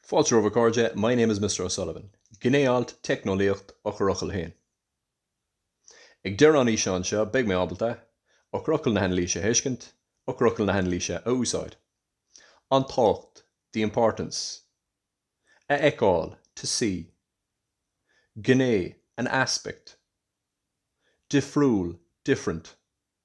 Fáilte romhaibh a chairde, my name is Mister O'Sullivan. Gné-alt, Teicneolaíocht, Eochairfhocail a haon. Ag deireadh an fhíseáin seo beidh mé ábalta, Eochairfhocail na hanailíse a thuiscint, Eochairfhocail na hanailíse a úsáid. An tábhacht, the importance. A fheiceáil, to see. Gné, an aspect. Difriúil, different.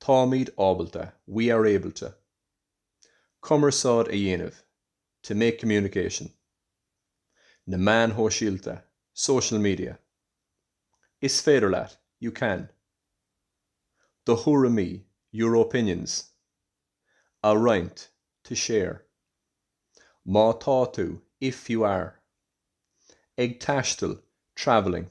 Táimid ábalta, we are able to, cumarsáid a dhéanamh, to make communication, na meáin shóisialta, social media. Is féidir leat, you can. Do thuairimí, your opinions, a roinnt, to share. Má tá tú, if you are, ag taisteal, travelling.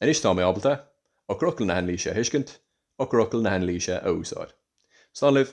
Anois tá mé ábalta eochairfhocail na hanailíse a thuiscint, eochairfhocail na hanailíse a úsáid. Slán libh.